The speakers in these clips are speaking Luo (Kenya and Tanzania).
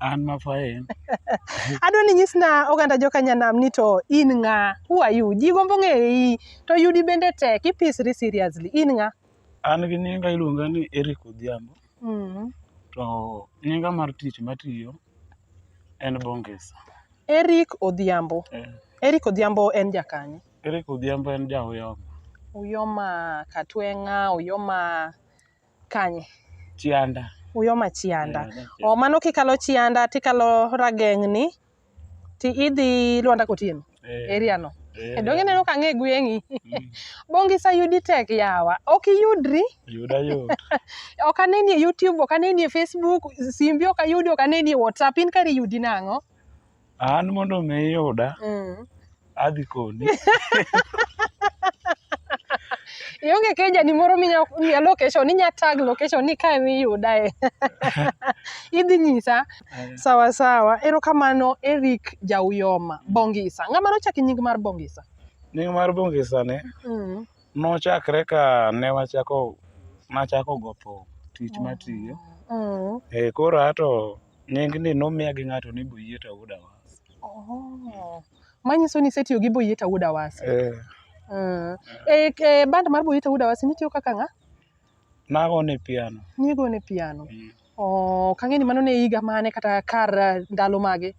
An ma faen. Adwa ni nyisna oganda joka Nyanam ni to in ng'a? Who are you? Ji gombo ng'eyi. To yudi bende tek. Ipisri seriously. In ng'a? An gi nyinga iluonga ni Eric Odhiambo. Mm. To nyinga mar tich matiyo en Bongesa. Eric Odhiambo. Eh, Eric Odhiambo en jakanye. Eric Odhiambo en ja Uyoma. Uyoma Katwenga, Uyoma Kanye? Chianda. Uyoma Chianda. Yeah, that's it. O mano kikalo Chianda tikalo Rageng'ni ti idhi Lwanda Kotieno Eh, area no. eh, E donge neno ka ng'e gweng'i. mm, Bongi sa yudi tek yawa. Ok iyudri. Yuda yot. Ok aneni e YouTube, ok aneni e Facebook, simbi ok ayudi, ok aneni e WhatsApp. In kari yudi nang'o? An mondo mi iyuda, Mm. adhi koni. Ionge keja ni moro minya miya location, inya tag location ni kae miyudae. Idhi nyisa. Sawa sawa. Erokamano Eric Jauyoma Bongisa. Ng'ama nochaki nying mar Bongisa? Nying mar Bongisa ni Mm. nochakre ka ne wachako nachako go thum tich matiyo. Mm. Eh, koro ato Nying ni nomiya gi ng'ato ni Boyieta Wuod Awasa. Oh. Manyiso ni isetiyo gi Boyieta Wuod Awasa. Eh. Mm. E, e band mar Boyieta Wuod Awasa nitiyo kaka ng'a? Nago ne piano. Nigo ne piano. Mm. Oh, kang'e ni mano ne higa mane kata kar eh, ndalo mage?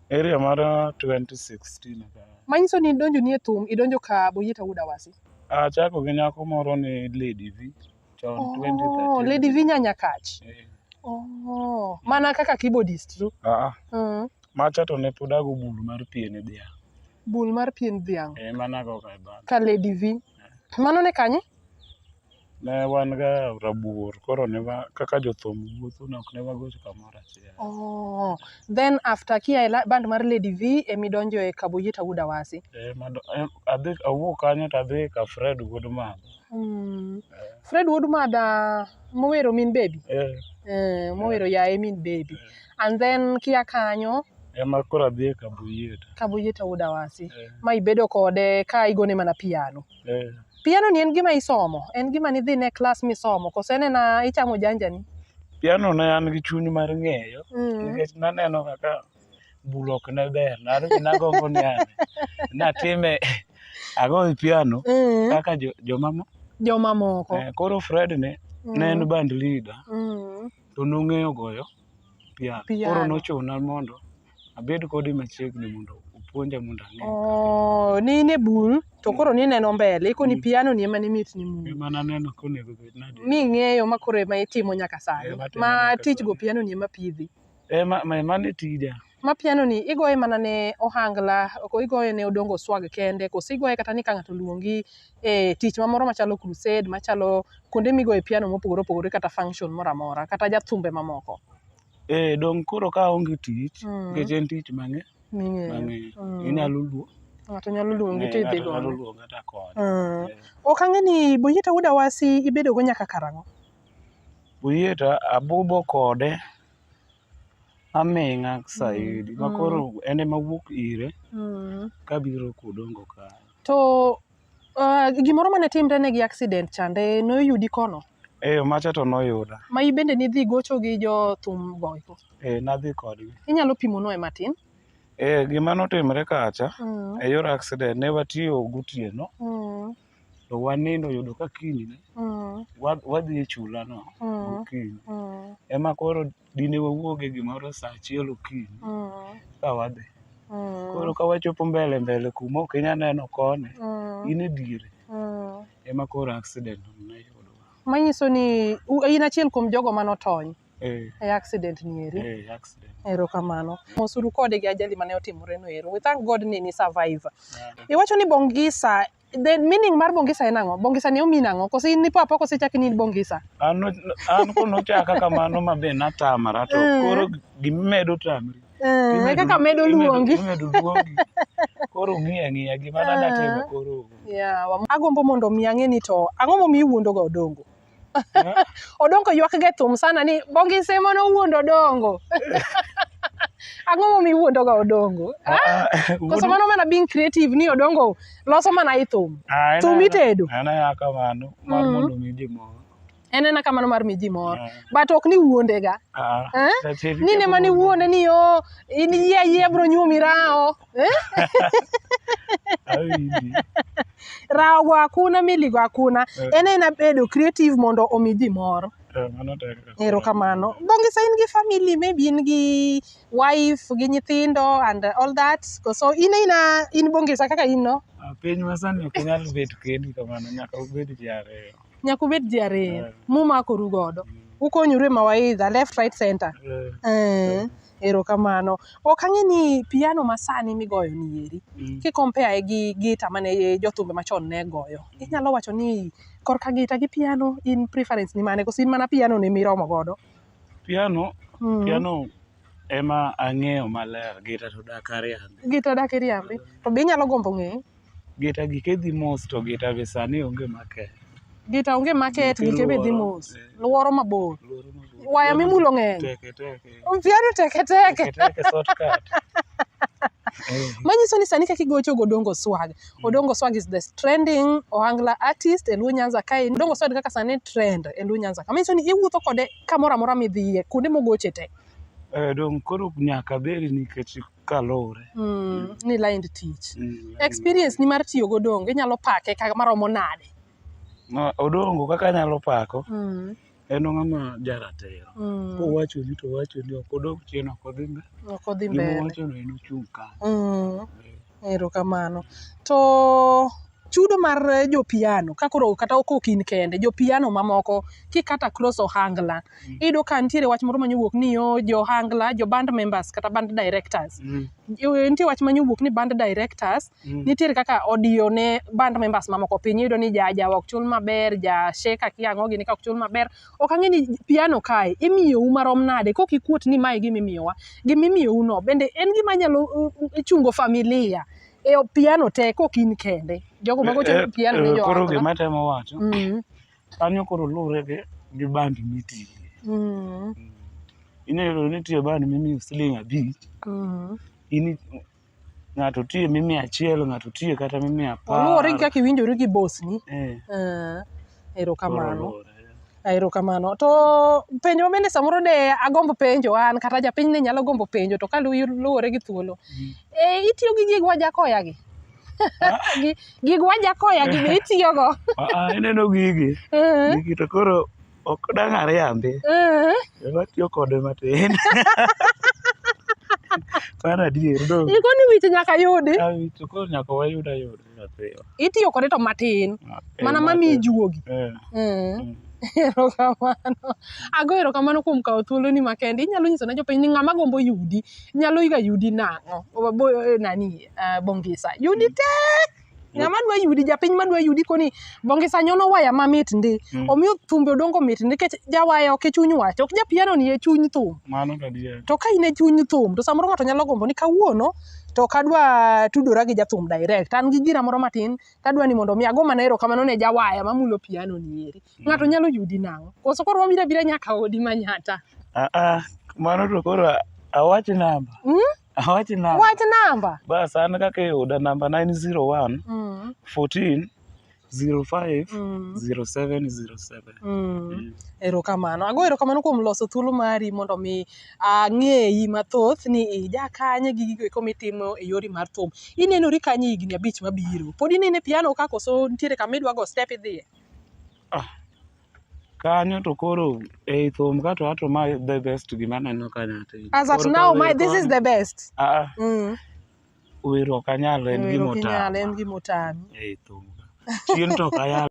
Area mar 2016 ka. Manyiso ni idonjo ni e thum, idonjo ka Boyieta Wuod Awasi. Achako gi nyako moro ni Lady V. chon Oh, 2013. Lady Vinya Nyakach. Eh, Oh, mana kaka keyboardist tu. ah, Mm. macha to ne pod ago bul mar pien e dhiang' Bul mar pien dhiang' e mana go ka bag ka Lady V. Mano ne kanye? ne wan ga rabuor koro ne wa kaka jothum wuotho ne ok ne wagocho kamoro achiel Oh. Then after kia e la- band mar Lady V emi donjo e Kaboyita Wuda Wasi. Eh, mado- eh, adhi awuok kanyo to adhi ka Fred wuod mama Mm. Fred Wood Mada mowero Min Baby. Eh, Eh, mowero yaye Min Baby. And then kia kanyo ema koro adhi e kabuyiet. Kabuyeta Wood Awasi Eh, ma ibedo kode ka igone mana piano. eh. Piano ni en gima isomo, en gima nidhi ne klas misomo, kose en ena ichamo janjani. Piano ne an gi chuny mar ng'eyo Mm. nikech naneno kaka bul ok ne ber naruji nagombo ni ane natime agoyo piano Mm. kaka jo- jomamo Jomamoko. Eh, koro fred ne Mm. ne en band leader Mm. to nong'eyo goyo piano koro Piano. nochuna mondo abed kode machiegni mondo opuonja mondo ang'e Oh, ni in e bul to koro ni neno mbele ikoni piano ni ema ni mit ni mu. ema naneno konego bed nadi Mi ng'eyo ma koro ema itimo nyaka sani. Eh, matimo Ma nyaka tich go sani. piano ni ema pidhi. Eh, ma, ma, mano e tija. ma piano ni igoye mana ne ohangla ko igoye ne odongo swag kende koso igoye kata ni ka ng'ato oluongi e tich mamoro machalo crusade machalo kuonde migoye piano mopogore opogore kata function moro amora kata jathumbe mamoko Eh, dong' koro ka aonge tich, Mm. nikech en tich mang'e, ming'eyo mang'e. Mm. Inyalo luo. ng'ato nyalo luongi eh, to ng'ato idhi nyalo godo luonga to akonyo. Mm. Eh. ok ang'e ni Boyita Wuod Awasi ibedogo nyaka karang'o Uyie to abubo kode aming'a saidi ma koro en ema wuok ire Mm. kabiro kodongo ka To ah, gimoro mane timre ne gi accident chande noyudi kono eyo macha to noyuda ma in bende nidhi gocho gi jo thum goiko. eh nadhi kodgi Inyalo pimo noe matin. eh gima notimre kacha Mm. e yor accident ne watiyo gotieno Mm. to wanindo yudo ka kiny ne Mm. wa- wadhi e chula no Mm. gokinyi Mm. ema koro dine wawuoge gimoro saa achiel okinyi Mm. ka wadhi Mm. koro ka wachopo mbele mbele kuma ok inya neno kone Mm. in e diere Mm. ema koro accident ne yudowa manyiso ni u- in achiel kuom jogo mane otony eh, e accident ni eri eh, accident erokamano mosuru kode gi ajali mane otimore no ero we thank god ni ni survive Yeah. iwacho ni bongisa the meaning mar bongisa en ang'o bongisa ni omin ang'o kose in nipo apoko sechaki ni in bongisa an an kono chaka kamano ma be natamara to Eh. koro gimimedo tamri Eh, e kaka medo luongi imedo luongi koro ng'iya ng'iya gima nada timo koro Yeah, wam- agombo mondo mi ang'e ni to ang'o momiyo iwuondoga odongo odongo ywak ge thum sana ni bongi sema no wuondo dongo ang'o momi wuondo ga odongo ah, ah, ah, koso mano mana being creative ni odongo loso mana i thum thum itedo en ena kamano mar mm. mondo mi ji mor en ena kamano mar miji mor but ok ni wuondega eh? ni ne mani wuonde ni yo oh, in yie ayie bro nyuomi rawo Awinji. Rawo hakuna, miligo hakuna. Eh. En aena bedo creative mondo omi ji mor. Eh, mano tek. Erokamano. Bongisa in gi family, maybe in gi wife, gi nyithindo and all that. So in aina in Bongisa kaka in no? Ah, Piny masani ok nyal bet kendi kamano, nyaka ubed ji ariyo. Nyaka ubed ji ariyo. Eh. Mumakoru godo. Ukonyoru e mawaidha, left, right, center. Eh. Eh. Erokamano. Ok ang'e ni piano masani migoyo ni eri, mm. ki compare gi gita mane jothumbe machon ne goyo, mm. inyalo wacho ni korka gita gi piano in preference ni mane koso in mana piano ni miromo godo? Piano, mm. piano ema ang'eyo maler, gita to dak ariambi. Gita dak iriambi, to be inyalo gombo ng'eyo? Gita gike dhi mos to gita be sani onge market. Gita onge market, Gite gike be dhi luoro, mos. eh. Luoro mabor. Luoro mabor. Waya mimulo ng'eny. Teke teke. Mpiano teke teke. Teke teke shortcut. Eh, Manyiso ni sani kaka igocho go Odongo Swag. Odongo Swag is the trending Ohangla artist e Luo Nyanza kae. Odongo Swag kaka sani trend e Luo Nyanza. Ka manyiso ni iwuotho kode kamoro amora midhiye, kuonde mogoche te. eh, dong' koro nyaka beri nikech Kaluwore. Mm, ni lined tich. Mm, Experience ni mar tiyo godongo inyalo pake kaka maromo nade? Ma odongo kaka anyalo pako Mm, en ng'ama jaratiro. mm. Kowacho ni to wacho ni ok odog chien ok odhi mbele. Ok odhi Gima mbele. owachono en ochung' kanyo. Mm. Erokamano. To chudo mar eh, jo piano ka koro kata kok in kende jo piano mamoko kikata cross ohangla Mm. iyudo ka nitiere wach moro manyowuok ni yo jo ohangla jo band members kata band directors Mm, Eh, nitie wach manyowuok ni band directors mm, nitiere kaka odiyo ne band members mamoko piny iyudo ni ja ja ok chul maber ja sheka kiang'o gini ka ok chul maber ok ang'e ni piano kae imiyou marom nade kok ikuot ni mae gima imiyowa gima imiyou no bende en gima nyalo uh, uh, chungo familia e piano te kok in kende jogo mago Eh, chopo piano ni eh, koro joot gima atemo wacho Mm, kanyo koro luwre gi gi band mitiye mm, inyalo nitie band mimiyo siling abich mm. ini ng'ato tiye mimiyo achiel ng'ato tiye kata mimiyo apar oluwore gi kaka iwinjori gi bosni Eh, Eh, Erokamano. Ah, Erokamano. To penjo ma bende samoro de agombo penjo an kata japiny ne nyalo gombo penjo to ka lu- luwore gi thuolo. Mm. E, itiyo gi gig wajakoya gi? Gi- gig wajakoya gi be itiyogo? Ah, ah, ineno gigi Eh, gigi to koro ok dang' ariambi eh. watiyo kode matin mano adier dong Ikoni wich nyaka yudi. Ah, to koro nyaka wayud ayuda Nyathio. itiyo kode to matin Ah, eh, mana ma mamiyi matin. juogi Eh, Mm. erokamano ago erokamano kuom kawo thuoloni makende inyalo nyiso ne jopiny ni ng'ama gombo yudi nyalo ga yudi nang'o Bo- bo- eh, nani eh, bongisa yudi te ng'ama dwa yudi japiny madwa yudi koni bongisa nyono waya mamit ndi Mm. omiyo thumbe odongo mit ndi nikech jawaya ok e chuny wach ok japiano ni e chuny thum mano to adier to ka in e chuny thum to samoro ng'ato nyalo gombo ni kawuono to ok adwa tudora gi jathum direct. An gi gina moro matin tadwa ni mondo mi ago mana erokamano ne jawaya mamulo piano ni eri. Ng'ato nyalo yudi nang'o? Koso koro wabiro abira nyaka odi Manyatta? Ah, ah, mano to koro awach namba. Hmm? Awach namba. Wach namba. Bas an kaka iyuda namba na en 01 Mm. 14 05 Mm. 07 07. Mm. Mm. Erokamano. Ago erokamano kuom loso thuolo mari mondo mi ang'eyi mathoth ni ija kanye gi gigo eko mitimo e yori mar thum. Inenori kanye higni abich mabiro? Pod inene piano ka koso nitiere kama idwa go step idhiye? Kanyo to koro ei thum ka to ato ma the best gima aneno kanyo ati. As at Koro now, kawe my, this is koni. the best. Ah, Mm. Wero ok anyal en gima otama. En gima otami. Eh, thum. Chien to ok ayal.